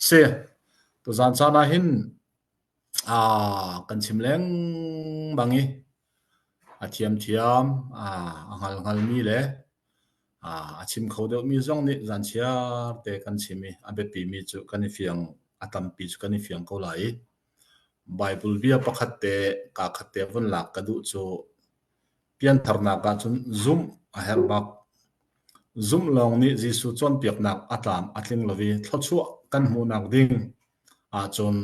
Si. Tuzaan caan ah hin aa kan chim lengmang i a thiamthiam, aa a hngalhngalmi le aa a chim kho deuhmi zong nih zaan chiarte kan chim i a biapimi cu kan i fiang, a tampi cu kan i fiang ko lai i Baibal bia pakhat te, kaa khat te vun lak ka duh cu Piantharnak ahcun zumh a herh bak. Zumh lawng nih Jesuh cawnpiaknak a tlam a tling lo i thluachuah kan hmuhnak ding ahcun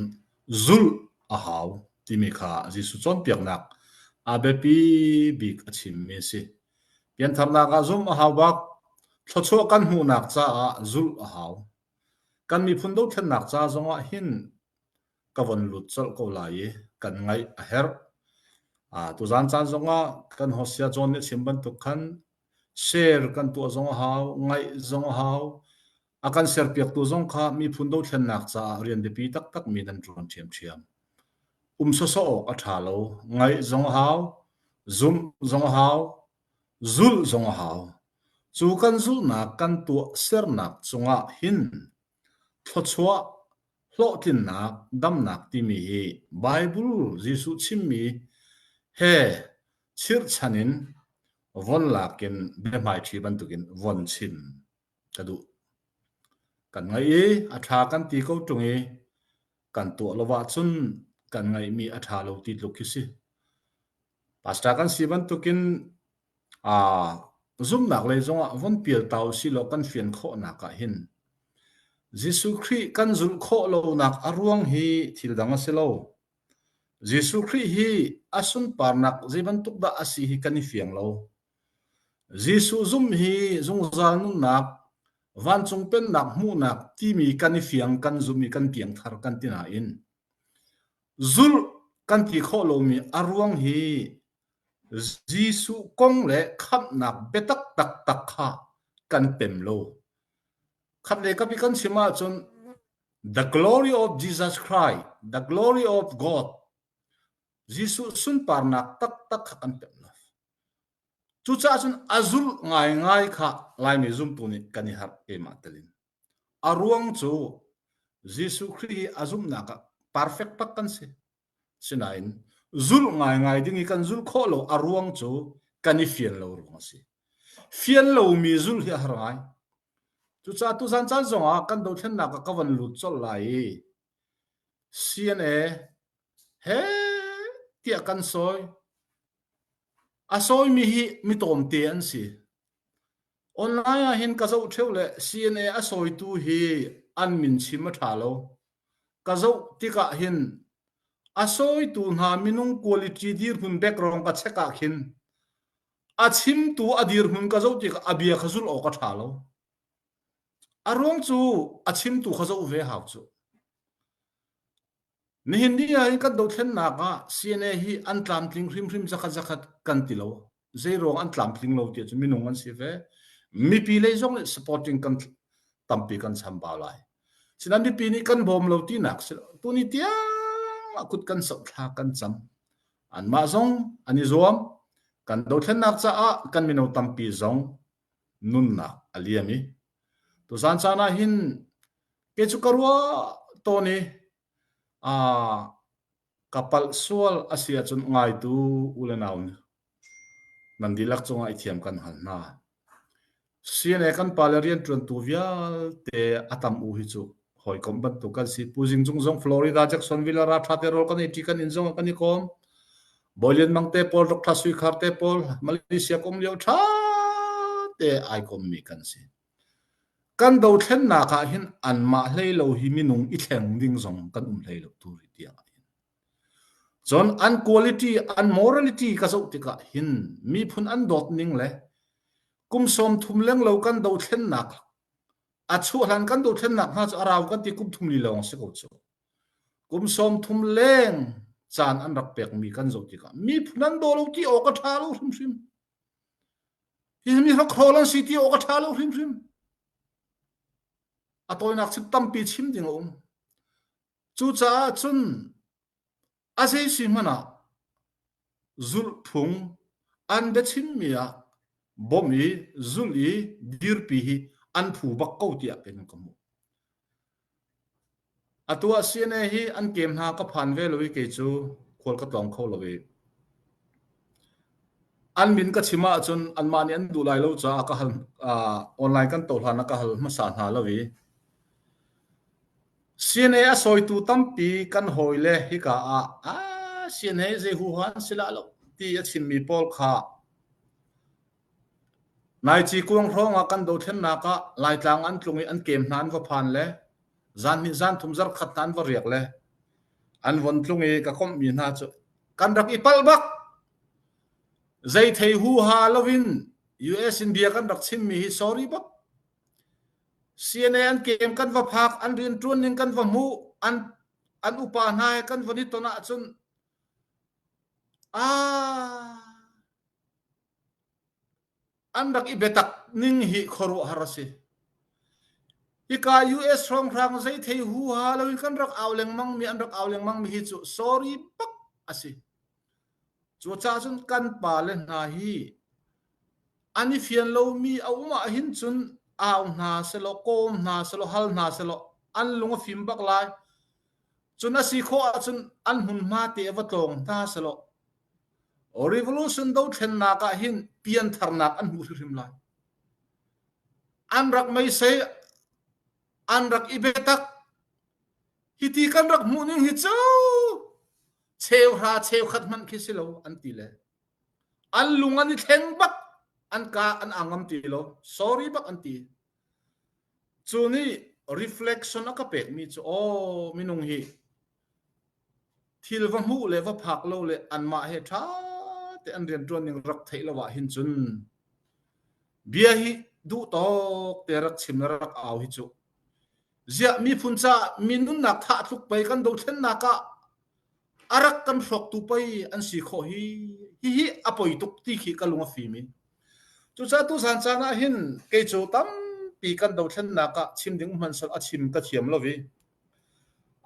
zulh a hau timi kha Jesuh cawnpiaknak a biapi bik a chimmi a si. Piantharnak ah zumh a hau bak. Thluachuah kan hmuhnak caah zulh a hau. Kan miphun dothlennak ca zongah hin ka von lut colh ko lai i kan ngaih a herh. Uh, tuzan caan zongah kan hosia John nih chim bantuk khan share kan tuah zong a hau, ngaih zong a hau. A kan share piaktu zong kha miphun dothlennak caah rian biapi taktak mi nan tuan ṭhiamṭhiam. Um soso awk a ṭha lo. Ngaih zong a hau, zumh zong a hau, zulh zong a hau. Cu kan zulhnak kan tuah sernak cungah hin Thluachuah, hlawhtlinnak, damnak timi hi Baibal Jesuh chimmi he chirhchan in von lak in biahmaiṭhi bantukin von chim ka duh. Kan ngaih i a ṭha kan ti ko ṭung i kan tuah lo ahcun kan ngaihmi a ṭha lo ti tluk khi si. Pastor kan si bantukin Zumhnak lei zongah vun pialta usihlaw kan fian khawhnak ah hin Jesuh Khrih kan zulh khawh lonak a ruang hi thildang a si lo. Jesuh Khrih hi a sunparnak zei bantuk dah a si hi kan i fiang lo. Jesuh zumh hi zungzal nunnak, vancung pennak hmuhnak timi kan i fiang, kan zumh i kan piangthar kan ti nain zulh kan ti khawh lomi a ruang hi Jesuh kong le khamhnak biatak taktak kha kan pem lo. Khatlei kapi kan chim ahcun The Glory of Jesus Christ, The Glory of God, Jesuh sunparnak taktak kha kan pem lo. Cucaah cun a zulh ngaingai kha Laimi zumtu nih kan i harh ema telin. A ruang cu Jesuh Khrih hi a zumhnak ah perfect bak kan si. Sinain zulh ngaingai ding i kan zulh khawh lo a ruang cu kan i fial lo ruang a si. Fial lomi zulh hi a har ngai. Cucaah tuzan caan zongah kan dothlennak ah ka van lut colh lai i CNA he tiah kan sawi. A sawimi hi mi tawmte an si. Online ah hin ka zoh ṭheu le CNA a sawitu hi an min chim a ṭha lo. Ka zoh tikah hin a sawitu hna minung quality dirhmun background ka check ah khin a chimtu a dirhmun ka zoh tikah a bia kha zulh awk a ṭha lo. A ruang cu a chimtu kha zoh ve hau cu. Nihin ni ah hin kan dothlennak ah CNA hi an tlamtling hrimhrim zakhat zakhat kan ti lo. Zeiruang an tlamtling lo tiah cu minung an si ve. Mipi lei zong nih supporting kan tampi kan chambau lai. Sinan mipi nih kan bawm lo tinak si lo. Tuni tiang ah kut kan soh thla kan cam. Anmah zong an i zuam. Kan dothlennak caah kan mino tampi zong nunnak a liam i tuchan caan ah hin ke cu ka ruah tawn i aa ka palh sual a si ahcun ngaitu u le nau nan dihlak cungah i thiam kan hal hna CNA kan pale rianṭuantu vialte a tam u hi cu hawikom bantuk kan si puzing cung zong Florida Jacksonville ra tha te rol kan i ti kan in zong kan i kom Boylian mang te pol rok tha sui khar te pol Malaysia kom liu tha te ai kom mi kan si kan do thlen na ka hin an ma hlei lo hi minung i thleng ding zong kan um hlei lo tu ri tiang John an quality an morality ka zo tika hin mi phun an dot ning le kum som thum leng lo kan do thlen nak A chuahhlan kan dothlennak hna cu a rau kan ti kum thum li lawng a si ko cu. Kum sawm thum leng caan an rak pekmi kan zoh tikah miphun an daw lo ti awk a ṭha lo hrimhrim. Hi mi hrakhrol an si ti awk a ṭha lo hrimhrim. A tawinak cu tampi chim ding a um. Cucaah cun A zeisi hmanh ah zulhphung an biachimmi ah bawmh i zulh i dirpi hi an phu bak ko tiah kei nan ka hmuh. Atu ah CNA hi an kem hna ka phan ve lo i kei cu khual ka tlawng kho lo i an min ka chim ahcun anmah nih an duh lai lo caah ka hal uh, online kan to hlan ah ka hal hmasa hna lo i CNA a sawitu tampi kan hawile hika ah ah CNA zei huhan si la lo ti a chimmi pawl kha Naici kuang hrawng ah kan dothlennak ah Laitlang an tlung i an kem hna an va phan le zan hnih zan thum zar khat nan va riak le an von tlung i ka kom mi hna cu kan rak i pal bak zei thei hu ha lovin US in bia kan rak chim mi hi sorry bak CNA an keem kan va phak, an rianṭuan ning kan va hmuh, an, an upa hna he kan van i ton ahcun aa an rak i biatak ning hi khuaruahhar a si. Hika US hrawnghrang zei thei huha loin kan rak au lengmang mi, an rak au lengmang mi hi cu sorry bak a si. Cucaah cun kan pale hna hi an i fian lomi a um ahhin cun au hna selaw, kawm hna selaw, hal hna selaw an lung a fim bak lai. Cun a si khawh ahcun an hmunhma te a va tlawng hna selaw revolution do thlennak ah hin piantharnak an hmuh hrimhrim lai. An rak meisei, an rak i betak. Hiti kan rak hmuh ning hi cu cheuhra cheukhat hmanh khi si lo an ti le an lung an i thleng bak an ka an angam ti lo sorry bak an ti cu ni reflection a ka pek mi cu aw minung hi thil va hmuh le va phak lo le anmah he tha te an rian tuan ning rak thei lo ah hin cun bia hi duh tok te rak chim le rak au hi chu ziah miphun caah mi nunnak tha a tluk pei kan dothlennak ah a rak kan hlawktu pei an si khawh hi hihi a poi tuk ti khi ka lung a fim i cucaah tusan caan ah hin kei cu tampi kan dothlennak ah chim ding hman sal a chim ka thiam lo i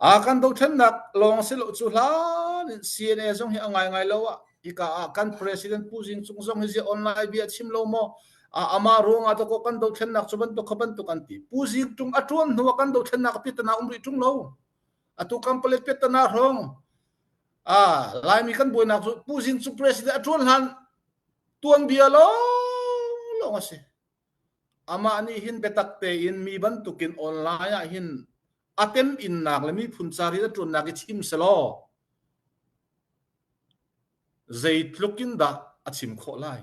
a kan dothlennak lawng si lo cu hlan in CNA zong hi a ngai ngai lo ah hika ah kan president Pu Zing Cung zong hi zi online bia chim lo maw amah ruangah to kan dothlennak cu bantuk kha bantuk an ti pu zing tung a tuan hnu kan dothlennak pi tana umri tung lo atu kam palet pe tana hrong a laimi kan buainak cu pu zing cu president a tuan hlan tuan bia lo lo nga si ama ni hin betak te in mi bantukin online ah hin atem innak le mi phun cari da tuannak i chim selo Zeitluk in dah a chim khawh lai?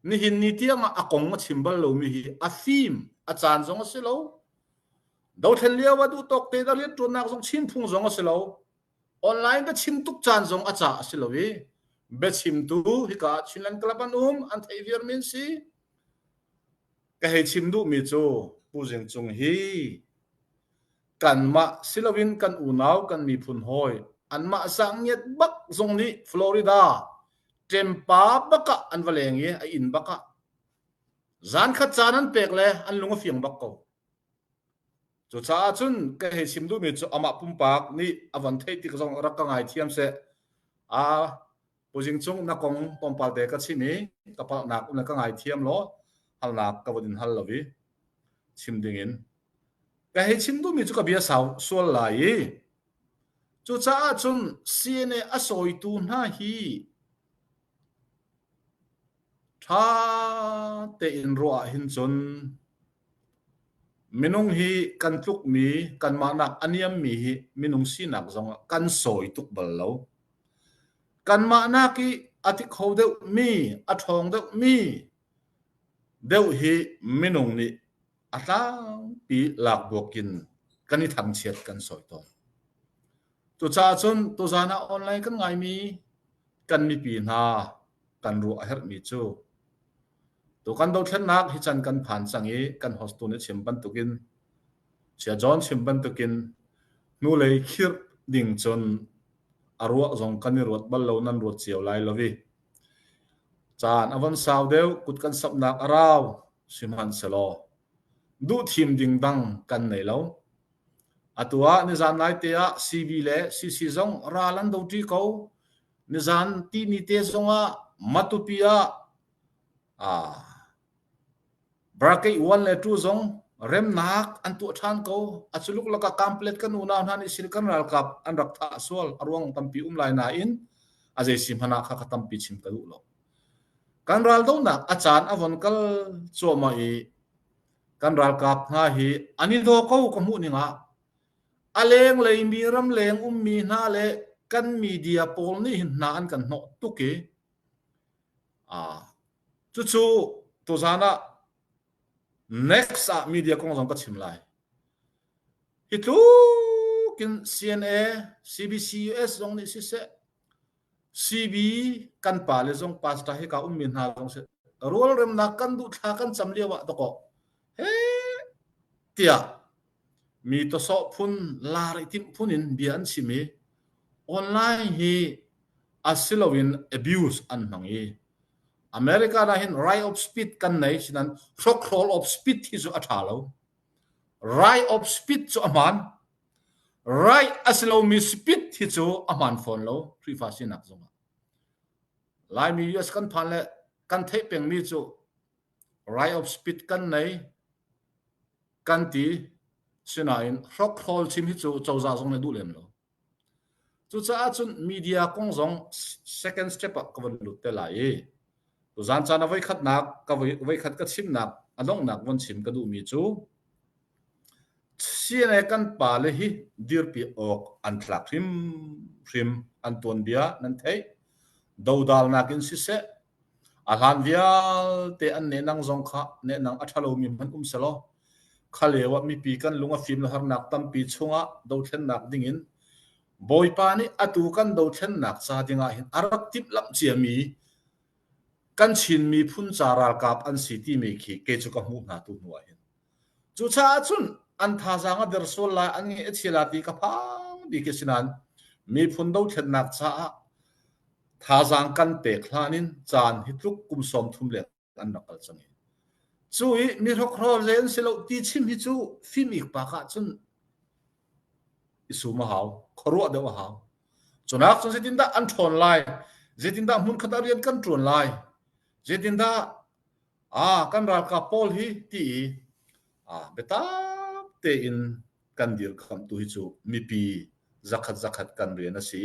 Nihin ni tiangah a kong a chim bal lomi hi a fim, a caan zong a si lo. Dothlen lio a duh tawk te da rianṭuannak zong Chin phung zong a si lo. Online ka chim tuk caan zong a ca a si lo i biachimtu hika ah Chinland Club an um an theih viarmi an si. Ka hei chim duhmi cu Pu Zing Cung hi Kanmah si loin kan unau kan miphun hawi anmah zangiat bak zong nih Florida ṭempa bakah an va leng i a inn bakah zan khat caan an pek le an lung a fiang bak ko. Cucaah cun ka hei chim duhmi cu amah pumpak nih a van theih tik zong rak ka ngai thiam seh. A Puzing cung na kong pawmpal te ka chim i ka paknak um ka ngai thiam lo halnak ka vodin hal lo i chim ding in ka hei chim duhmi cu ka bia sau sual lai i cucaah cun CNA a sawitu hna hi ṭha tein ruah hin cun minung hi kan tlukmi kanmahnak a niammi hi minung sinak zong kan sawi tuk bal lo Kanmah nak i a thi kho deuhmi, a ṭhawng deuhmi deuh hi minung nih a tlangpi lakbuak in kan i thangchiat kan sawi tawn. Cucaah cun tuzan ah online kan ngaimi kan mipi hna kan ruah a herhmi cu Tukan dothlennak hi can kan phan cang i kan hostu nih chim bantukin Chia John chim bantukin hnulei khirh ding cun a ruah zong kan i ruat bal lo nan ruat cio lai lo i caan a von sau deuh kut kan sapnak a rau sihmanhselaw duh thim ding dang kan nei lo. Atu ah nizan naite ah CB le CC zong ral an do ṭi ko. Nizan tini te zongah matupi ah ah bracket one le two zong remnak an tuah ṭhan ko. A culuk lakah kamplet kan unau hna nih sil kan ralkap an rak thah sual a ruang tampi um lai nain a zeisi hmana kha ka tampi chim ka duh lo. Kan raldonak a caan a von kal cuahmah i kan ralkap hna hi ani do ko ka hmuh ningah A lenglei mi ramleng ummi hna le kan media pawl nih hin hna an kan hnawh tuk i cucu tuzaan ah next ah media kong zong ka chim lai. Hi tlukin CNA, CBC US zong nih siseh, CB kan pa le zong pastor hi ka ummi hna zong sih rualremnak kan duh thla kan cam lio ah takaw he tiah Mi tawsawh phun, lar i timh phun in bia an chim i online hi a si loin abuse an hmang i America dah hin right of speech kan nei sinan hrokhrol of speech hi cu a ṭha lo. Right of speech cu a hmaan. Right a si lomi speech hi cu a hmaan fawn lo Khrihfa sinak zongah. Laimi US kan phan le kan theih pengmi cu Rai-ops-pit kan nei, kan ti. Sinain hrokhrol chim hi cu cozah zong nih a duh lem lo. Cucaah cun media kong zong second step ah ka van lut te lai i tuzan caan a voi khatnak ka voi, voi khat ka chimnak a donghnak von chim ka duhmi cu CNA kan pale hi dirpi awk an tlak hrimhrim an tuanbia nan theih. Dodalnak in siseh, A hlan vialte an nenang zong kha nenang a ṭha lomi hmanh um selaw kha lio ah mipi kan lung a fim le harnak tampi chungah dothlennak dingin Bawipa nih atu kan dothlennak ca dingah hin a rak timhlamh ciami kan Chin miphun ca ralkap an si timi khi kei cu ka hmuh hna tu hnu ah hin Cucaah cun an thazaang a der sual lai, an ngeih a chia lai ti ka phang bik a si nain miphun dothlennak caah thazaang kan pek hlan in caan hi tluk kum sawm thum leng an rak kal cang i cu i mi hrokhrawl ze an si lo ti chim hi cu fim ikpak ah cun i sum a hau khuaruah deuh a hau cunak cun zeitindah an ṭhawn lai zeitindah hmunkhat ah rian kan ṭuan lai zeitindah ah kan ralkap pawl hi ti i biatak tein kan dir kham tu hi cu mipi zakhat zakhat kan rian a si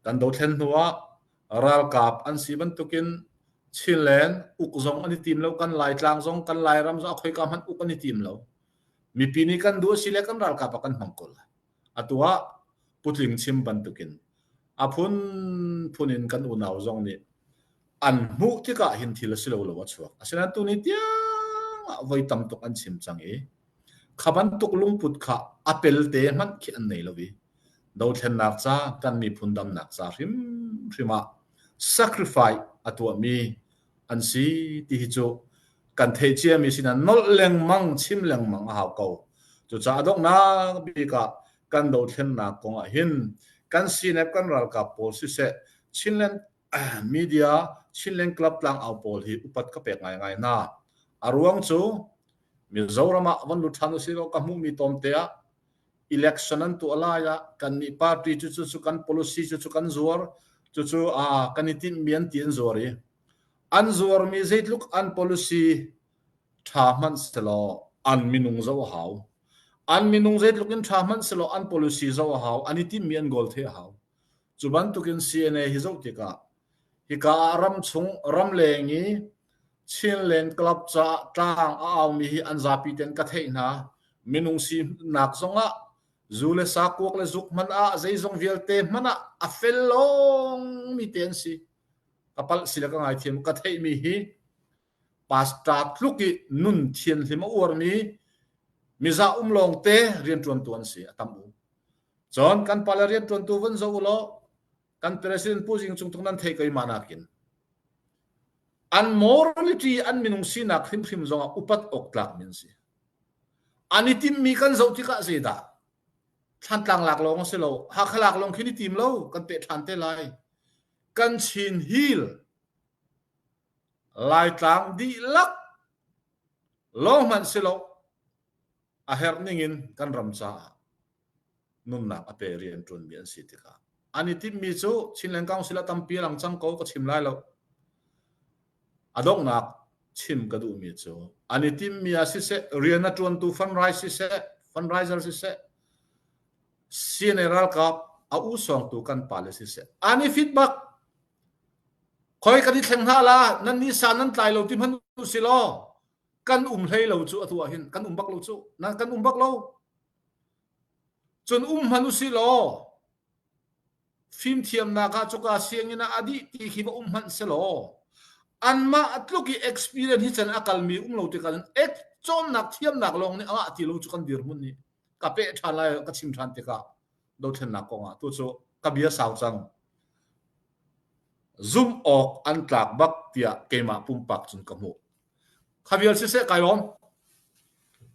kan dothlen hnu ah ralkap an si bantukin Chinland uk zong an i tim lo kan Laitlang zong kan Lairam zong akhoi ka hman uk an i tim lo mipi nih kan duh a si le kan ralkap ah kan hmang ko lai Atu ah putling chim bantukin a phunphun in kan unau zong nih an hmuh tikah hin thil a si lo lo a chuak. Asinain tuni tiangah voi tam tuk an chim cang i kha bantuk lungput kha a pelte hmanh khi an nei lo i dothlennak ca kan miphun damnak ca hrimhrim ah sacrifice a tuahmi an si ti hi cu kan theih ciami sinan nolh lengmang chim lengmang a hau ko cucaah donghnak bik ah kan dothlennak kong ah hin kan CNF kan ralkap pawl siseh Chinland media Chinland club tlang au pawl hi upat ka pek ngaingai hna a ruang cu Mizoram ah van lut ṭhan usih law ka hmuhmi tawmte ah election an tuah lai ah kan nih party cu cu, cu kan policy cu cu kan zuar cucu a kan i tinhmi an ti an zuar i an zuarmi zeitluk an policy tha hmanh selaw an minung zo a hau an minung zeitluk in tha hmanh selaw an policy zo a hau an i tinhmi an goal the a hau Cu bantukin CNA hi zoh tikah hika ah ramchung, ramleng i Chinland club caah tlang a aumi hi an zapi ten ka theih hna. Minung sinak zongah zu le sa kuak le zuk hmanh ah zeizong vialte hmanh ah a fel lawngmi te an si. Ka palh si le ka ngaithiam ka theihmi hi pastor tluk i nun thianhlim a uarmi miza um lawngte riantuantu an si a tam u cun kan pale riantuantu vun zoh u law kan president pu jing chung tung nan thei koima nakin an morality an minung sinak hrimhrim zongah upat ok tlak min si an i timmi kan zoh tikah se dah thlantlang lak lawng a si lo hakha lak lawng khi ni tim lo kan pe than te lai kan chin hil Laitlang dihlak lawng hmanhselaw a herh ning in kan ram caah nunnak a pe rian ṭuanmi an si tikah an i timhmi cu Chinland Council a tampi a lang cang ko ka chim lai lo. A donghnak chim ka duhmi cu an i timhmi ah siseh rian a ṭuantu fundraise siseh fundraiser siseh CNA ralkap a u sawngtu kan pa le siseh an i fit bak Khoi kan i thleng hna la, nan nisa nan tlai lo ti hmanh u si law kan um hlei lo cu atu ahhin kan um bak lo cu nan kan um bak lo cun um hmanh u si law fimthiamnak ah cuka sianginn ah a dih ti khi va um hmanh selaw anmah a tluk i experience hi cun a kalmi um lo tikah cun ek cawnnak thiamnak lawng nih a ngah ti lo cu kan dirhmun nih ka peh ṭhan lai ka chim ṭhan tikah dothlennak kongah tu cu ka bia sau cang zumh awk an tlak bak tiah keimah pumpak cun ka hmuh kha vial siseh kai lawm